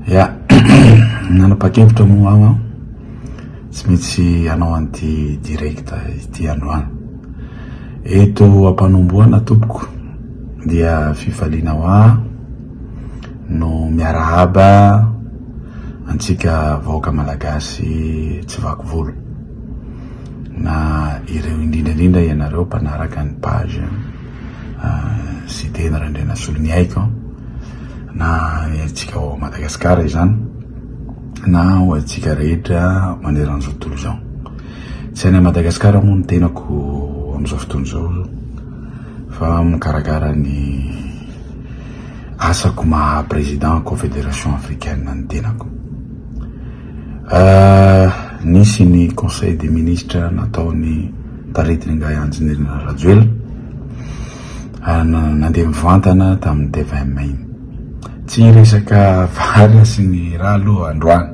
Ya, nanapa-kevitra moa aho an, tsy maintsy hanao an'ity direct ity androany. Eto am-panombohana tompoko dia fifaliana ho ahy no miarahaba antsika vahoaka malagasy tsy vaky volo, na ireo indrindra indrindra ianareo mpanaraka ny page. Siteny Randrianasoloniaiko an, na ny antsika ao Madagasikara izany na ho antsika rehetra maneran'izao tontolo izao. Tsy any Madagasikara moa ny tenako amin'izao fotoana izao fa mikarakara ny asako maha président confédération africaine ny tenako. Nisy ny conseil des ministres nataon'ny taritin'ingahy Andrinirina Rajoelina, nandeha mivantana tamin'ny tvm iny. Tsy hiresaka vary sy ny rà aloha androany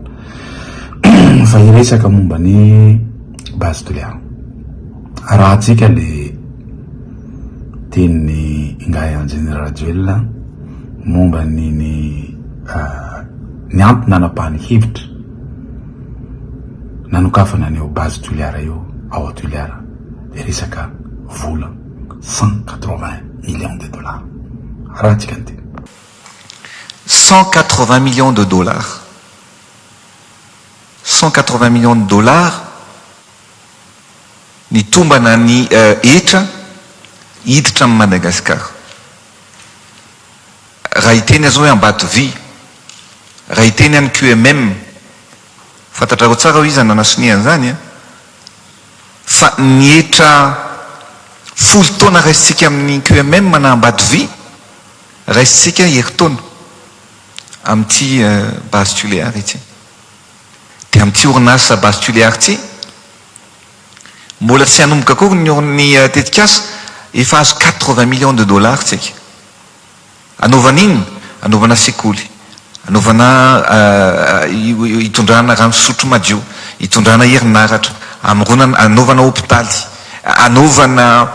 fa hiresaka momba ny base de leant. Arahantsika ilay tenin'i Ingahy Andriana Rajoelina momba ny ny ny antony nanapahany hevitra nanokafana an'io base Toliara io ao à Toliara dia resaka vola cent quatre vingt millions de dollars. Arahantsika ny teny. Cent quatre vingt millions de dollars. Cent quatre vingt millions de dollars Nitombana ny hetra hiditra amin'i Madagasikara. Raha hiteny aza hoe Ambatovy, raha hiteny any QMM, fantatrareo tsara hoe iza no nanasonia an'izany an! Fa ny hetra folo taona raisintsika amin'ny QMM na Ambatovy, raisintsika herintaona amin'ity base Tuléar ity. Dia amin'ity orinasa Base Tuléar ity, mbola tsy hanomboka akory ny or ny tetikasa, efa azo quatre-vingts millions de dollars tsika. Anaovana inona? Anaovana sekoly, anaovana hitondrana rano fisotro madio, hitondrana herinaratra, hamoronana, hanaovana hopitaly, hanaovana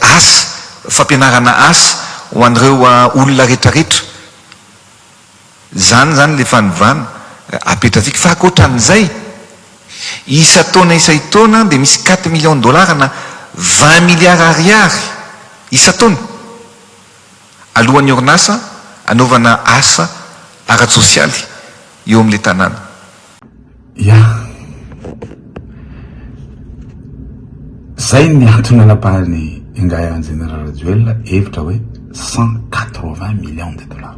asa, fampianarana asa ho an'ireo olona rehetrarehetra. Izany izany ilay fanovana apetratsika. Fa ankoatran'izay, isan-taona isan-taona dia misy quatre millions de dollars na vingt milliards ariary isan-taona aloan'ny orinasa hanaovana asa ara-tsosialy eo amin'ilay tanàna. Yeah. Zay ny antony anabahany ingahy Injeniera Rajoelina hevitra hoe cent quatre vingt millions de dollars.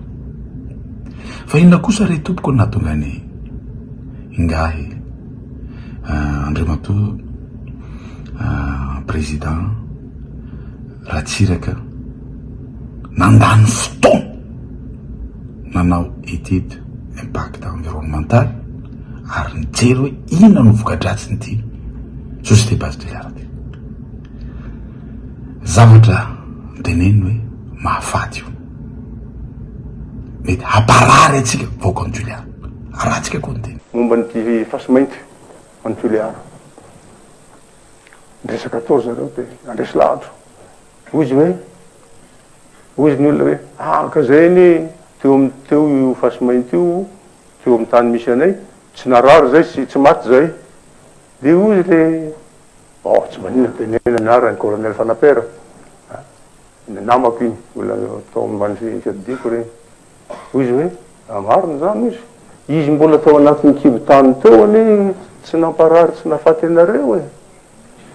Fa inona kosa re tompoko no nahatonga ny ingahy euh, Andriamatoa euh, président Ratsiraka nandany fotoana nanao étude impact environnemental ary nijery hoe inona no voka-dratsin'ity souci de base de l'art ity. Zavatra noteneniny hoe mahafaty io. Mety hamparary antsika vahoaka an'i Toliara. Arahantsika koa ny teny. Momba an'ity fasy mainty any Toliara. Niresaka tao ry zareo dia nandresy lahatra. Hoy izy hoe Hozy ny olona hoe, araka izay anie teo amin'ny teo io fasimainty io teo amin'ny tany misy anay, tsy narary izay sy tsy maty izay. Dia hozy ilay, oh tsy maninona teneno ny anarany, Colonel Fanapera, ny namako iny, mbola tao ambany fiadidiako ireny. Hoy izy hoe, Marina izany, hoy izy. Izy mbola tao anatin'ny kibon-tany teo anie tsy namparary tsy nahafaty anareo e!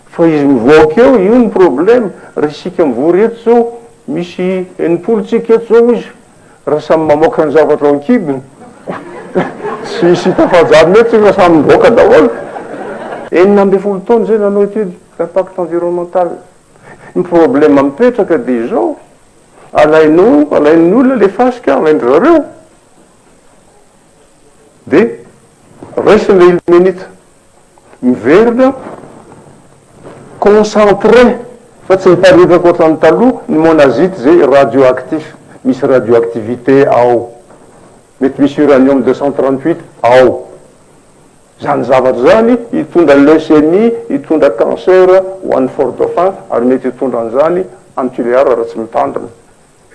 Fa izy mivoaka eo, io ny problème. Raha isika mivory eto izao, misy enimpolo tsika eto izao, hoy izy, raha samy mamoaka ny zavatra ao an-kibony, tsy hisy hita fahajanona eto isika fa samy mivoaka daholo. Enina ambin'ny folo taona izay nanao étude d'impact environnemental. Ny problème mipetraka dia izao. Alainao, alain'ny olona le fasika, alain-dry zareo de raisin'ilay ilmenite. Miverina concentré fa tsy miparitaka ohatran'ny taloha ny monazite izay radioactif, misy radioactivité ao. Mety misy uranium deux cent trente huit ao. Izany zavatra izany hitondra leucémie, hitondra cancer ho an'i Fort Dauphin ary mety hitondra an'izany any Tulear raha tsy mitandrina.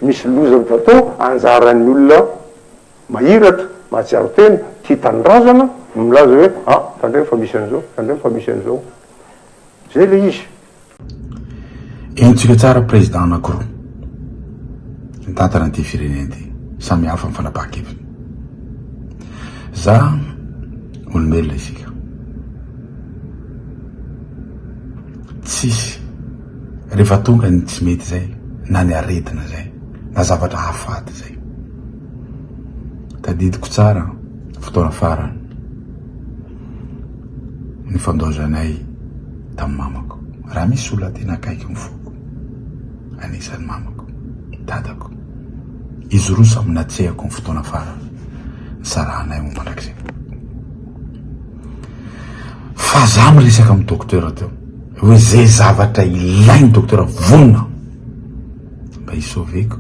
Misy loza azo atao, anjaran'ny olona mahiratra, mahatsiaro tena, tia tanindrazana no milaza hoe, ah, tandremo fa misy an'izao, tandremo fa misy an'izao. Izay ilay izy. Henontsika tsara président anankiroa mitantana ity firenena ity, samy hafa ny fanapahan-keviny. Za olombelona isika, tsisy rehefa tonga ny tsy mety zay na ny aretina zay na zavatra hahafaty zay, tadidiko tsara fotoana farany. nifandaozanay tamin'ny mamako. Raha misy olona tena akaiky ny foko, anisan'ny mamako, dadako. Izy roa samy natsehako ny fotoana farany nisarahanay ho mandrakizay. Fa za miresaka amin'ny docteur teo, hoe zay zavatra ilain'ny docteur vonona mba hi-sauver-ko.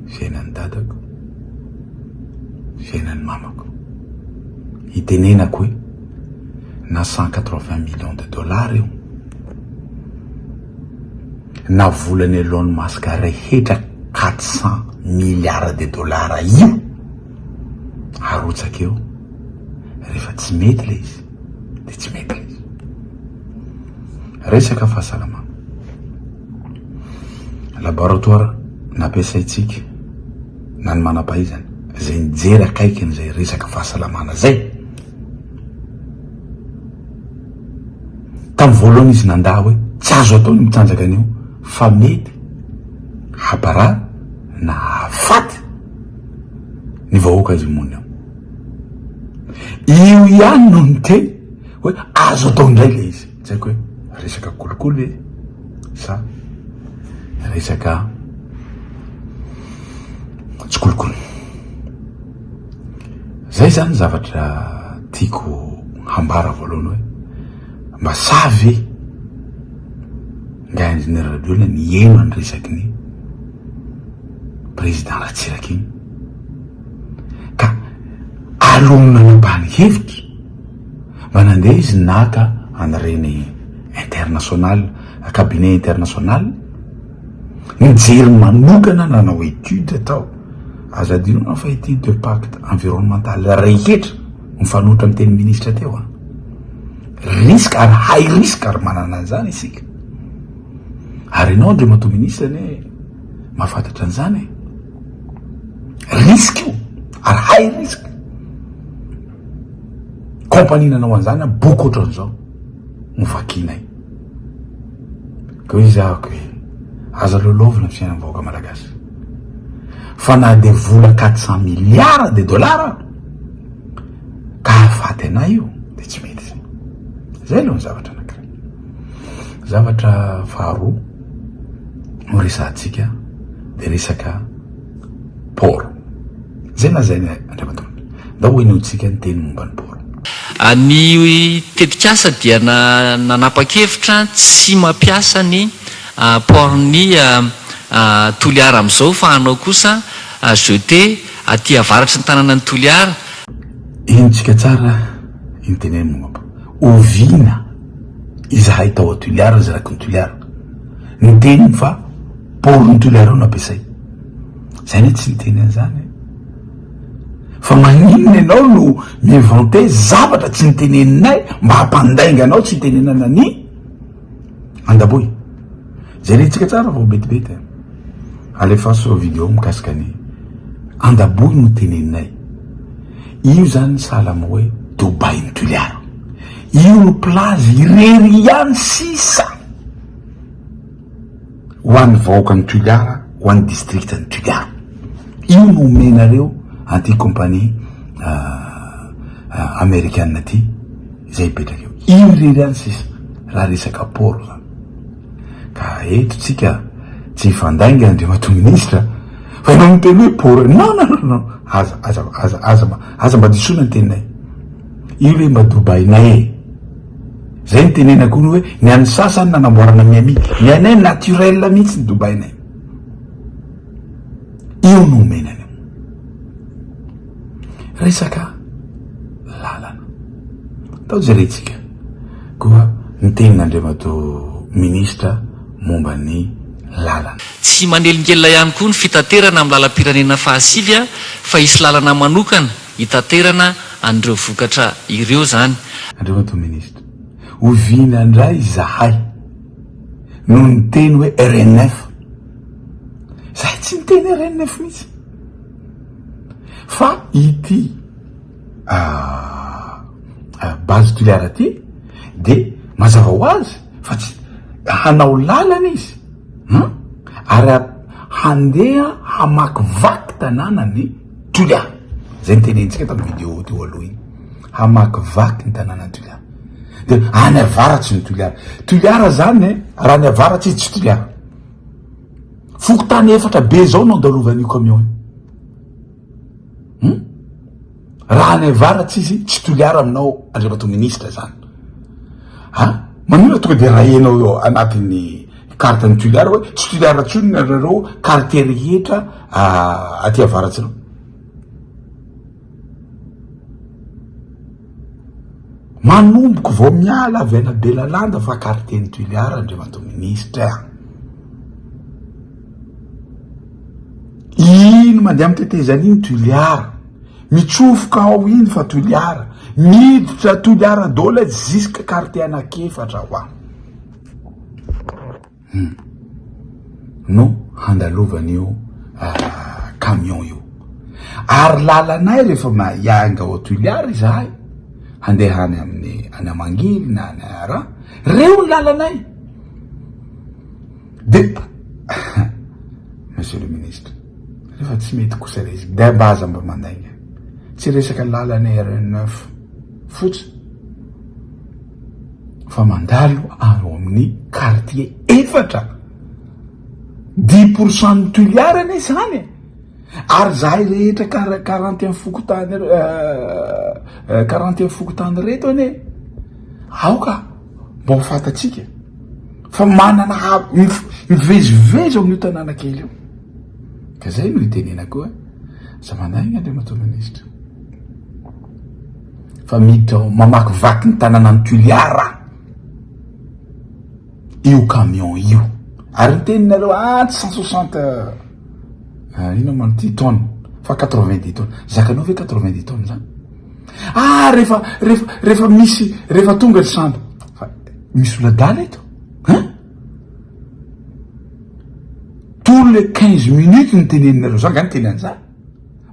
fiainan'ny dadako, fiainan'ny mamako. Hitenenako hoe na cent quatre vingt millions de dollars io, na volan'i Elon Musk rehetra quatre cent milliards de dollars io, arotsaka eo, rehefa tsy mety ilay izy dia tsy mety ilay izy. Resaka fahasalamana. Laboratoire nampiasaintsika na ny manampahaizana izay nijery akaikiny izay resaka fahasalamana izay. Tamin'ny voalohany izy nandà hoe tsy azo atao ny mitsanjaka an'io fa mety habarà na hahafaty ny vahoaka azy monina io. Io ihany no niteny hoe azo atao indray ilay izy. Tsy haiko hoe resaka kolikoly ve sa resaka tsy kolikoly. Zay zany zavatra tiako hambara voalohany hoe mba sahy ve ngahy Ingénieur Rajoelina niheno an'ny resaky ny Président Ratsiraka iny ka alonony nanambany hevitra. Mba nandeha izy naka an'ireny international, cabinet international, nijery manokana nanao étude tao. Aza adino an fa ity deux pacte environnemental rehetra mifanohitra niteny ministra teo an. Risque ary high risque ary manana an'izany isika. Ary ianao Andriamatoa ministra anie mahafantatra an'izany e. Risque io ary high risque. Compagnie nanao an'izany an, boky ohatran'izao no vakianay. Ka hoe izy ahako hoe aza loloavina ny fiainan'ny vahoaka malagasy. Fa na dia vola quatre cent milliards de dollars ka hahafaty anay io dia tsy mety izay. Izay aloha ny zavatra anankiray. Zavatra faharoa no resahantsika dia resaka Port. Zay na zay Andriamatoa. Ndao henointsika ny teny momba ny port. Ny tetikasa dia nanapa-kevitra tsy mampiasa ny port ny Toliara amin'izao fa hanao kosa jetée aty avaratry ny tananan'i Toliara. Henontsika tsara iny teneny momba port. Oviana izahay tao Toliara, zay rakin'i Toliara. Ny teniny fa port ny toliara no ampiasay. Zay anie tsy niteny an'zany e. Fa maninona enao no mi-inventer zavatra tsy niteneninay mba hampandainga anao tsy hitenenana ny andaboy. Jerentsika tsara vao betibety a. Alefaso reo video mikasika ny andaboy no teneninay. Io zany sahala am hoe Dubai ny Toliara. Io no plage irery ihany sisa ho an'ny vahoakan'i Toliara, ho an'ny district an'i Toliara. Io no omenareo an'ity compagnie amerikana ity izay hipetraka eo. Io irery ihany sisa raha resaka port zany. Ka eto tsika tsy hifandainga Andriamatoa Ministra fa ianao miteny hoe bor non non non non aza aza aza aza mba aza mba disoina ny teninay io le mba dobainay e zay ny tenenako hono hoe ny an'ny sasany nanamboarana Miami ny anay naturel mihitsy ny dobainay io no omena Resaka lalana. Atao jerentsika koa ny tenin'Andriamatoa Minisitra momba ny lalana. Tsy manelingelina ihany koa ny fitaterana amin'ny lalam-pirenena fahasivy fa hisy lalana manokana hitaterana an'ireo vokatra ireo izany. Andriamatoa Minisitra, oviana indray izahay no niteny hoe RNF? Zay tsy niteny RNF mihitsy fa ity Base Toliara ity de mazava ho azy fa tsy hanao lalana izy an ary handeha hamakivaky tananan'i Toliara, zay nitenentsika tamin'ny vidéo teo aloha iny, hamakivaky ny tananan'i Toliara de any avaratsy ny Toliara, Toliara zany raha any avaratsy izy tsy Toliara. Fokontany efatra be izao no andalovan'io camion io. Hmm? Raha any avaratsy izy tsy toliara aminao Andriamatoa Minisitra izany. Ha? Ah, Manina tonga dia rahenao eo anatin'ny carte ny toliara hoe tsy toliara tsony nareo quartier rehetra ah, aty avaratsy ireo. Manomboka vao miala avy any Belalanda fa Quartier-n'i Tuléar Andriamatoa Minisitra a! Iny mandeha amin'ny tetezana iny Tuléar, mitsofoka ao iny fa Tuléar, miditra Tuléar daholo izy jusqu'à Quartier anak'efatra ho any. Hum. No handalovan'io camion io. Ary lalanay rehefa hiainga ao Tuilear izahay handeha any amin'ny any Amangily na any Araha, reo ny lalanay. Dia Monsieur le Ministre, rehefa tsy mety kosa ilay izy dia mba aza mba mandainga. Tsy resaka lalana RN9. fotsiny fa mandalo any amin'ny kartie efatra dix pour cent ny toliara anie izany e! ary izahay rehetra kara karanty amin'ny fokontany karanty amin'ny fokontany ireto anie aoka mba ho fantatsika fa manana ha mivezivezy ao amin'io tanàna kely io ka izay no itenenako hoe aza mandainga andriamatoa minisitra Fa miditra ao, mamakivaky ny tanànan'i Toliara io camion io. Ary ny teninareo, ah, tsy cent soixante, ah, inona moa ity, tonnes, fa quatre-vingt-dix tonnes. Zakanao ve quatre-vingt-dix tonnes zany? Ah, rehefa, rehefa, rehefa misy, rehefa tonga ry sambo. Fa misy oladala eto, hein? Tous les quinze minutes ny teneninareo, za nga ny teny an'izany.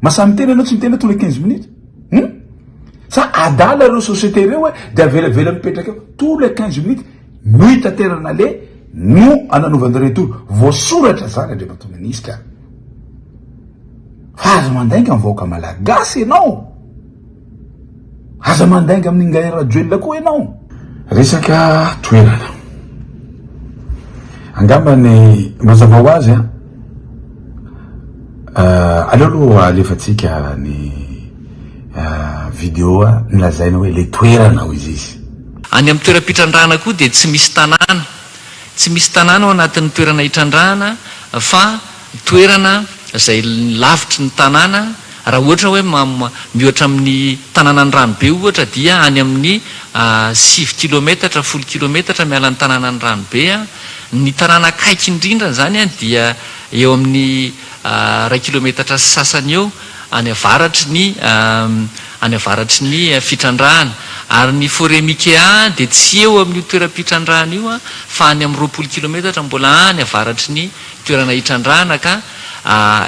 Masa miteny anao tsy miteny hoe tous les quinze minutes hum sa adala ireo société ireo hoe dia avelavela mipetraka eo tous les quinze minutes no itaterana le no ananaovana retour voasoratra zany andriamatoa ministra fa aza mandainga ny vahoaka malagasy ianao Aza mandainga amin'ny Ingahy Rajoelina koa ianao. Resaka toerana. Angamba ny mazava ho azy an. Ah, aleo aloha alefatsika ny ah, vidéo nilazaina hoe le toerana hoy izy. Any amin'ny toeram-pitrandrahana koa dia tsy misy tanàna. Tsy misy tanàna ao anatin'ny toerana itrandrahana fa. toerana izay lavitry ny tanàna, raha ohatra hoe miohatra amin'ny tanànan'i Ranobe ohatra dia any amin'ny sivy kilometatra, folo kilometatra miala ny tanànan'i Ranobe. Ny tanàna akaiky indrindra an'izany dia eo amin'ny iray kilometatra sy sasany eo any avaratry ny any avaratry ny fitrandrahana. Ary ny Forêt Mikea dia tsy eo amin'io toeram-pitrandrahana io fa any amin'ny roapolo kilometatra mbola any avaratry ny toerana hitrandrahana ka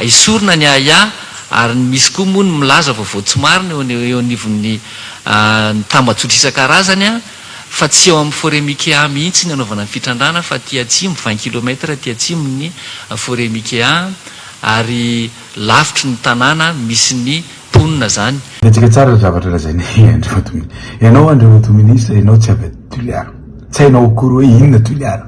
esorina ny ahiahy ary ny misy koa moa ny milaza vaovao tsy marina eo eo anivon'ny ny tambajotra isan-karazany fa tsy eo amin'ny forêt Mikea mihitsy ny anaovana ny fitrandrahana fa aty atsimo vingt kilomètre aty atsimon'ny forêt Mikea ary lavitry ny tanàna misy ny mponina zany. Hetsika tsara ry zavatra lazain'i Andriamatoa Minisitra. Ianao Andriamatoa Minisitra, ianao tsy avy aty Toliara. Tsy hainao akory hoe inona Toliara.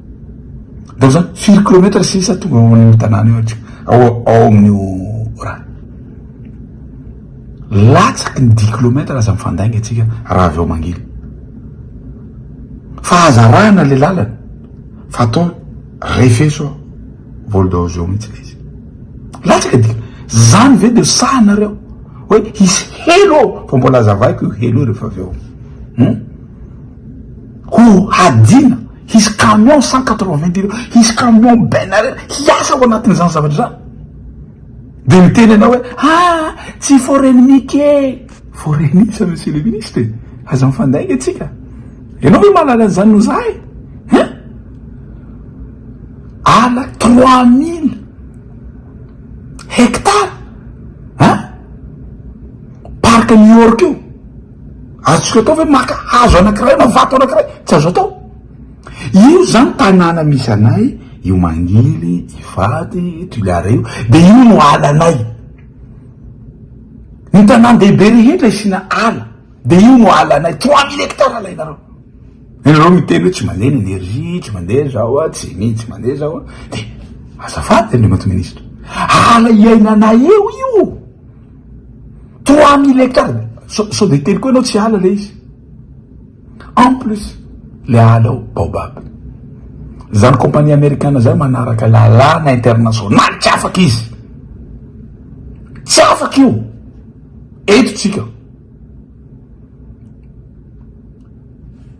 Ndao zany, firy kilometatra sisa tonga ao amin'io tanàna io atsika, ao ao amin'io rano. Latsaky ny dix kilometatra aza mifandainga atsika raha avy ao Mangily. Fa aza arahana le lalana fa atao refeso ao vol de hausse eo mihitsy le izy. Latsaky ny dix, zany ve de sahanareo hoe hisy helo ao fa mbola azavaiko io helo io rehefa avy ao. Hum? Ho hadino, hisy camion cent quatre-vingt kilos, hisy camion benner hiasa ao anatin'izany zavatra izany. Dia miteny ianao hoe ah! tsy foreninique e! Foreninique sa monsieur le ministre e! Aza mifandainga antsika. Ianao ve mahalala an'izany noho izahay e! Hein? Ala trois mille hectares! Hein? Parc New York io. Azontsika atao ve maka hazo anankiray na vato anankiray? Tsy azo atao. Io zany tanàna misy anay, io mangily, ivato, toliara io, de io no alanay. Ny tanàn-dehibe rehetra asiana ala, de io no alanay, trois mille hectares alainareo. Ianareo miteny hoe tsy mandeha ny energie, tsy mandeha zao a, tsy mi, tsy mandeha zao a, de azafady Andriamatoa Minisitra, ala iainanay eo io. Trois mille hectares, sao sao dia hiteny koa ianao tsy ala ilay izy. En plus, ilay ala ao, baobab. Izany compagnie amerikana izany manaraka lalàna internationaly, tsy afaka izy. Tsy afaka io. Eto tsika.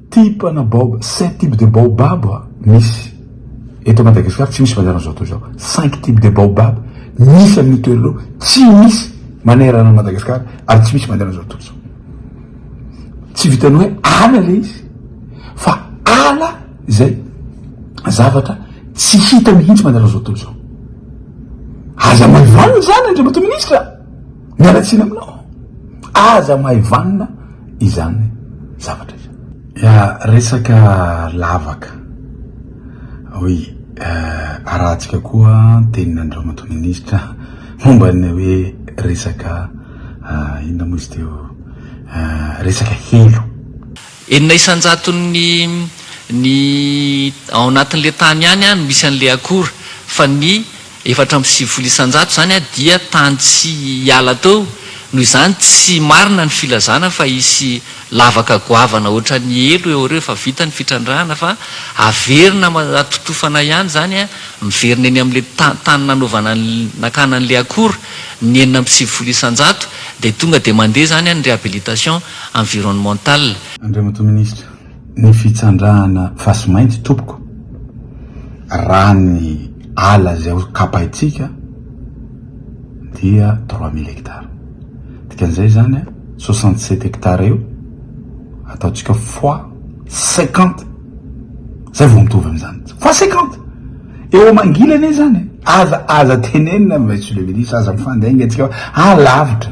Type na baob cinq type de baobab misy eto Madagascar tsy misy manerana zao tontolo izao cinq type de baobab misy amin io toerana io tsy misy manerana an Madagascar ary tsy misy manerana zao tontolo izao tsy vitany hoe ala le izy fa ala izay zavatra tsy hita mihintsy manerana zao tontolo izao aza maivanina izany Andriamatoa Ministra. Miala tsiny aminao, aza mahay vanona izany zavatra izany. Ya, resaka lavaka. Oui, arahantsika koa ny tenin'Andriamatoa Minisitra momba ny hoe resaka inona moa izy teo, resaka helo. Enina isan-jaton'ny ny ao anatin'ilay tany ihany no misy an'ilay akora, fa ny efatra amby sivifolo isan-jato izany dia tany tsy hiala teo, noho izany tsy marina ny filazana fa hisy lavaka goavana ohatran'ny helo eo rehefa vita ny fitrandrahana fa averina atotofana ihany izany miverina eny amin'ilay tany nanaovana nakana an'ilay akora ny enina amby sivifolo isan-jato dia tonga dia mandeha izany ny réhabilitation environnemental. Andriamatoa Minisitra, ny fitsandrahana fasimainty tompoko, raha ny ala izay ho kapaintsika dia trois mille hectares. Dikan'izay izany soixante sept hectares eo ataontsika fois cinquante, izay vao mitovy amin'izany. Fois cinquante! Eo amangilany izany e! Aza, aza tenenina Monsieur le Ministre, aza mifandainga antsika fa any lavitra.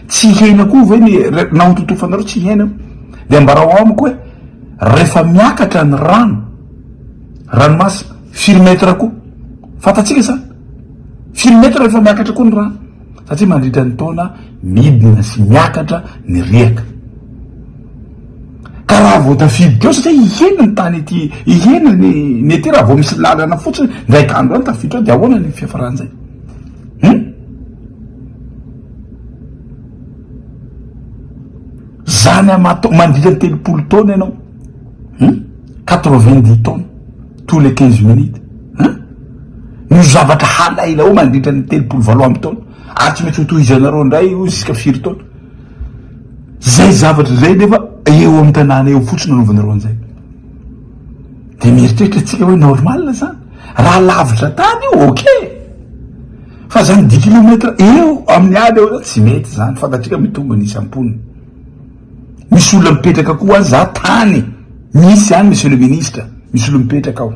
Tsy hiaina koa ve ny na ho totofanareo tsy hiaina eo? De ambarao amiko hoe rehefa miakatra ny rano, ranomasina, firy mètre koa? Fantatsika zany? Firy mètre rehefa miakatra koa ny rano? Satria mandritra ny taona midina sy miakatra ny riaka. Ka raha vao tafiditra eo satria hihena ny tany ety, hihena ny ny ety raha vao misy lalana fotsiny ndraiky andro any tafiditra ao de ahoana ny fiafaran'izay? Hum? Zany aman-taonany, mandritra ny telopolo taona ianao hum, quatre vingt dix taona tous les quinze minutes hum, no zavatra halainao mandritra ny telopolo valo amby taona ary tsy maintsy ho tohizanareo indray io ziska firy taona, zay zavatra zay nefa eo amin'ny tanàna eo fotsiny anaovanareo an'izay, de mieritreritra tsika hoe normal zany, raha lavitra tany io ok. Fa zany dix kilomètre eo amin'ny ady eo zany tsy mety zany fantatsika mitombo ny isam-pony. Misy olona mipetraka koa any za tany misy any monsieur le ministre misy olona mipetraka ao.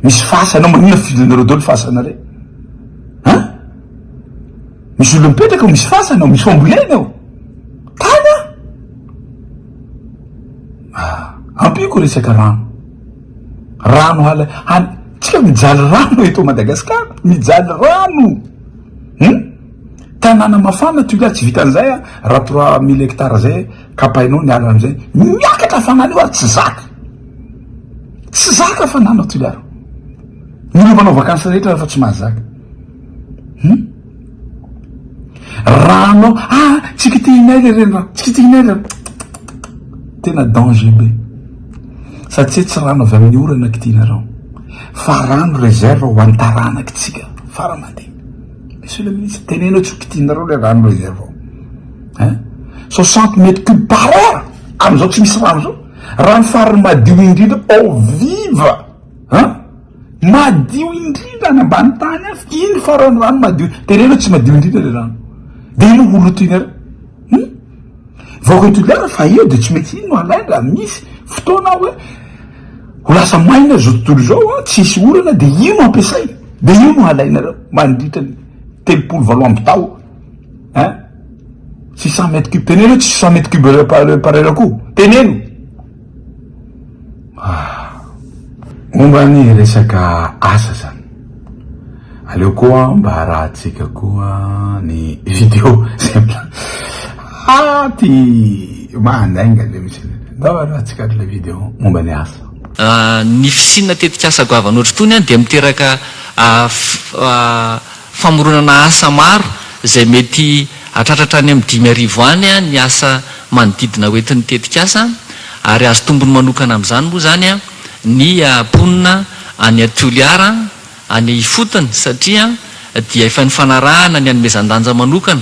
Misy fasana ao maninona fidiranareo daholo fasana rey an! Misy olona mipetraka ao misy fasana ao misy fambolena ao tany an! Ampiko resaka rano. Rano hala hany tsika mijaly rano eto Madagascar mijaly rano hum tanàna mafana tu là tsy vitan'izay a raha trois mille hectares zay kapainao ny ala amizay miakatra hafanana io ary tsy zaka tsy zaka hafanana tu là ro ny olo manao vakansy rehetra fa tsy mahazaka hum. Raha anao ah tsy kitihinay le renirano, tsy kitihinay le ttitttt tena danger be satsia tsy rano avy amin'ny orana kitihinareo fa rano reserve ho an'ny taranaky tsika fara aman-dia. Monsieur le ministre, teneno tsy ho kitihinareo le rano reserve ao eh soixante mètres cube par heure amin'izao tsy misy rano zao, rano fariny madio indrindra ao viva an. Madio indrindra any ambany tany any, iny faran'ny rano madio, teneno tsy madio indrindra le rano, de iny ho loto iny ary hum! vahoaka Toliara fa eo de tsy maintsy iny no alainy raha misy fotoana hoe ho lasa maina zao tontolo zao an, tsisy orana de io no ampiasaina, de io no alainareo mandritra ny telopolo valo amby tao an, six cent mètres cubes, teneno hoe tsisy cent mètres cubes par par heure akoho, teneno. Momba ny resaka asa zany, aleo koa mba arahantsika koa ny video zay mila- ah ty mandainga le misy an'le, ndao arahantsika ary le video momba ny asa. Ny fisiana tetikasa goavana ohatr'itony dia miteraka famoronana asa maro izay mety hahatratra hatrany amin'ny dimy arivo any ny asa manodidina ho entin'ny tetikasa ary azo tombony manokana amin'izany moa izany ny mponina any Toliara any ifotony satria dia efa nifanarahana ny hanomezan-danja manokana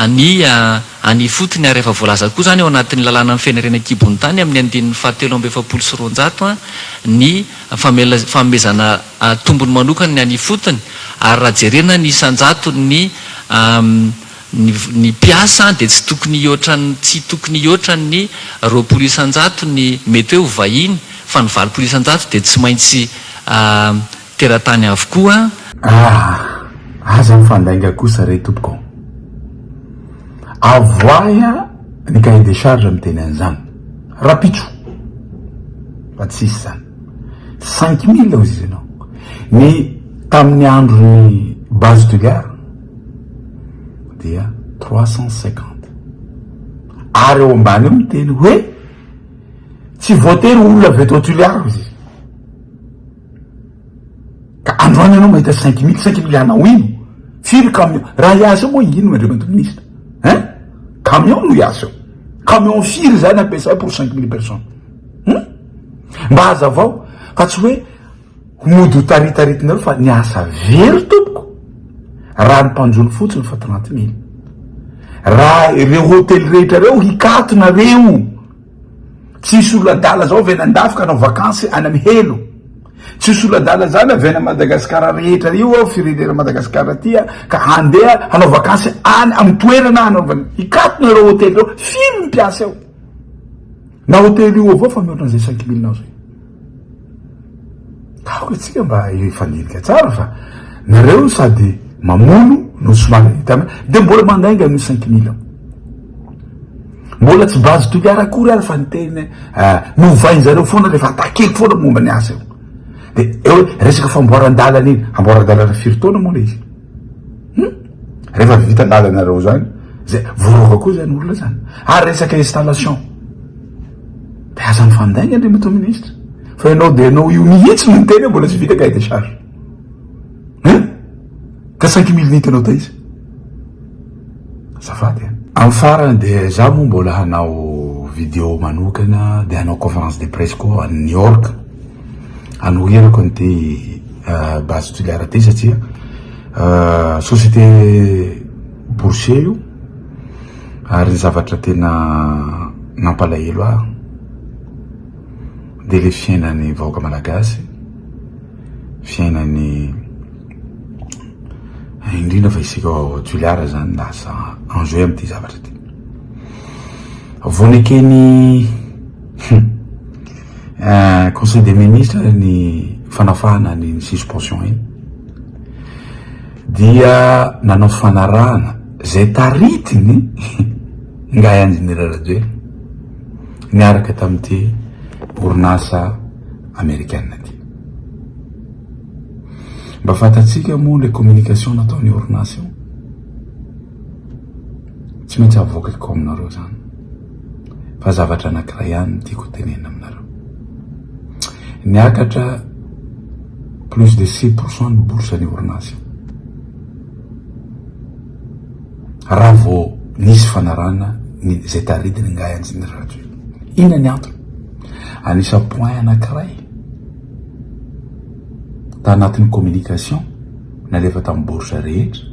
ny any ifotony ary efa voalaza koa izany ao anatin'ny lalàna mifehy ny harena an-kibon'ny tany amin'ny andininy fahatelo amby efapolo sy roanjato ny fanomezana tombony manokana ny any ifotony ary raha jerena ny isan-jatony ny ny mpiasa dia tsy tokony hihoatra ny tsy tokony hihoatra ny roapolo isan-jato ny mety hoe ho vahiny fa ny valopolo isan-jato dia tsy maintsy teratany avokoa. Ah! Aza mifandainga kosa re tompoko. Avoahy ny cahier des charges miteny an'izany. Rapitso fa tsisy izany. Cinq mille hoy izy ianao. Ny tamin'ny andron'ny base de gare dia trois cent cinquante. Ary ao ambany ao miteny hoe tsy voatery olona avy eto Toliara hoy izy. Ka androany ianao mahita cinq mille, cinq mille anao ino? Firy camion? Raha hiasa eo moa ino Andriamatoa Minisitra ein? Camion no hiasa eo? Camion firy izany ampiasay pour cinq mille personnes hum? Mba hazavao fa tsy hoe mody ho taritaritinareo fa ny asa very tompoko raha ny mpanjono fotsiny efa trente mille. Raha ireo hotely rehetra ireo hikatonareo. Tsisy olo adala zao avy any andafy ka anao vakansy any am helo, tsisy olo adala zany avy any Madagascar rehetra io ao firenena Madagascar ty a ka handeha hanao vakansy any am toerana hanaovany, hikatona ireo hotely ireo, firy ny mpiasa eo na hotely io avao fa mihoatra an'izay cinq mille nao zay. Aoka tsika mba hifandinika tsara fa nareo sady mamono no somary hitana dia mbola mandainga an'io cinq mille mbola tsy base toliara akory ary fa ny teny novainjareo foana le fa takiko foana momba ny asa io de eo resaka famboaran-dalana iny amboaran-dalana firy taona moa le izy Hum! Rehefa vita lalanareo zany, zay, voaroaka koa zany olona zany. Ary resaka installation. Dia aza mifandainga Andriamatoa Ministra. Fa ianao dia ianao io mihitsy no miteny hoe mbola tsy vita cahier des charges. Hein? Ka cinq mille nit anao taiza? Azafady an. Amin'ny farany dia za moa mbola hanao video manokana dia hanao conférence de presse koa any New York. Anoherako an'ity Base Tuléar ity satria société boursier io ary ny zavatra tena nampalahelo ahy dia ilay fiainan'ny vahoaka malagasy, fiainan'ny indrindra fa isika ao Tuléar zany lasa enjeu amin'ity zavatra ity. Vao nekeny eh, conseil des ministres ny fanafahana ny suspension iny dia nanao fanarahana zay taritiny ngahy anjenera rajoe niaraka tamin'ity orinasa amerikana ty mba fantatsika moa le communication nataony orinasa io Tsy maintsy avoakako aminareo izany. Fa zavatra anankiray ihany no tiako hotenenina aminareo. Niakatra plus de six pour cent ny bourse ny orinasa. Raha vao nisy fanarahana ny izay taridiny ingahy Injiniera Rajoelina. Inona ny antony? Anisa point anankiray tanatin'ny communication nalefa tamin'ny bourse rehetra.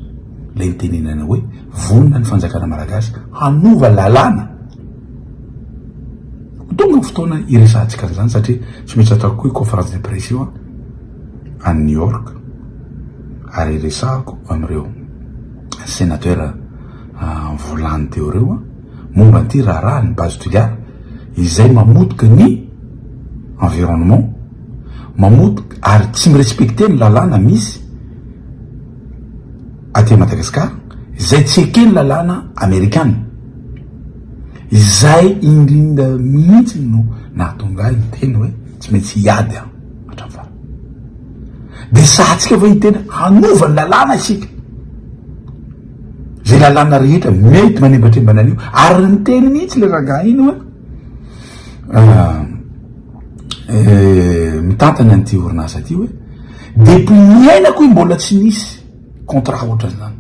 ilay nitenenana hoe vonona ny fanjakana malagasy hanova lalàna. Ho tonga ny fotoana hiresahantsika an'izany satria tsy maintsy ataoko koa io conférence de presse io any New York ary hiresahako amin'ireo sénateur volany teo ireo momba an'ity raharaha ny base Toliara izay mamotika ny environnement, mamotika ary tsy mi-respecter ny lalàna misy. aty Madagascar izay tsy eken'ny lalàna amerikana. Izay indrindra mihitsy no nahatonga ahy niteny hoe tsy maintsy hiady aho hatramin'ny farany. Dia sahatsika ve hiteny hanova ny lalàna isika? Izay lalàna rehetra mety manembatrembana an'io ary niteny mihitsy ilay rangahy iny hoe mitantana an'ity orinasa ity hoe. Depuis niainako i mbola tsy nisy contrat ohatran'izany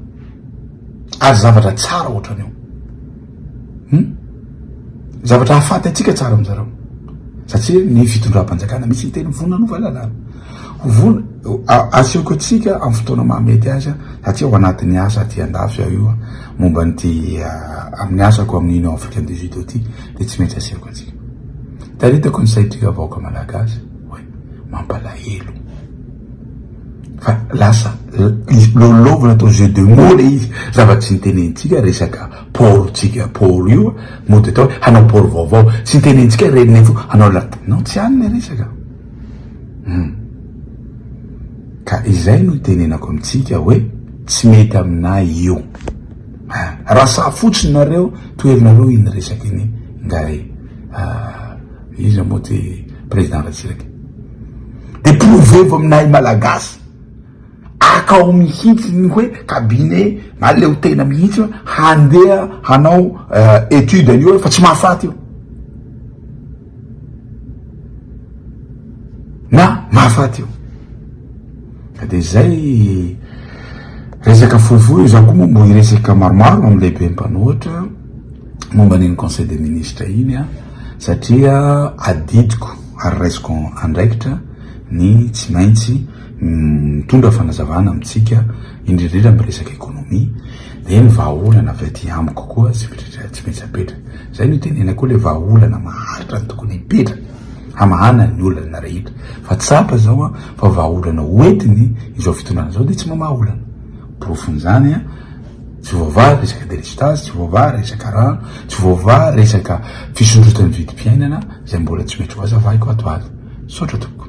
ary zavatra tsara ohatrany io hum zavatra hahafaty antsika tsara amin'zareo satria ny fitondram-panjakana misy miteny vonona hanova lalàna ho vonona asehoko antsika amin'ny fotoana mahamety azy satria ao anatin'ny asa aty andafy aho io momba an'ity amin'ny asako amin'ny Union Africaine des Judotistes dia tsy maintsy asehoko antsika itaritako ny saitry vahoaka malagasy Mampalahelo fa lasa lôlovina atao jeu de mots le izy, zava-tsy nitenentsika resaka port tsika port io mody atao hoe hanao port vaovao, tsy nitenentsika re nefa hanao la non tsy any le resaka hum ka izay no itenenako amintsika hoe tsy mety aminay io ah, raha sahy fotsiny nareo to herinareo iny resaka iny nga e ah. Iza moa ty président Ratsiraka? De prouver-vo aminahy malagasy akao mihitsy ny hoe cabinet na leo tena mihitsy handeha hanao étude an'io fa tsy mahafaty io na mahafaty io ka de zay resaka fohifohy io za koa moa mbo hiresaka maromaro amin'ny lehibe mpanohitra momba an'iny conseil des ministres iny aho satria adidiko ary raisiko andraikitra ny tsy maintsy mitondra fanazavana amintsika indrindra indrindra amin'ny resaka économie dia ny vahaolana avy aty amiko koa tsy mitratra tsy maintsy apetra izay no itenena koa ilay vahaolana maharitra ny tokony hipetra hamahana ny olana rehetra fa tsapa izao a fa vahaolana hoentiny izao fitondrana izao dia tsy mamaha olana porofon'izany a Tsy voavaha resaka delestazy, tsy voavaha resaka rano, tsy voavaha resaka fisondrotan'ny vidim-piainana izay mbola tsy mety ho azavaiko ato aly. Misaotra tompoko.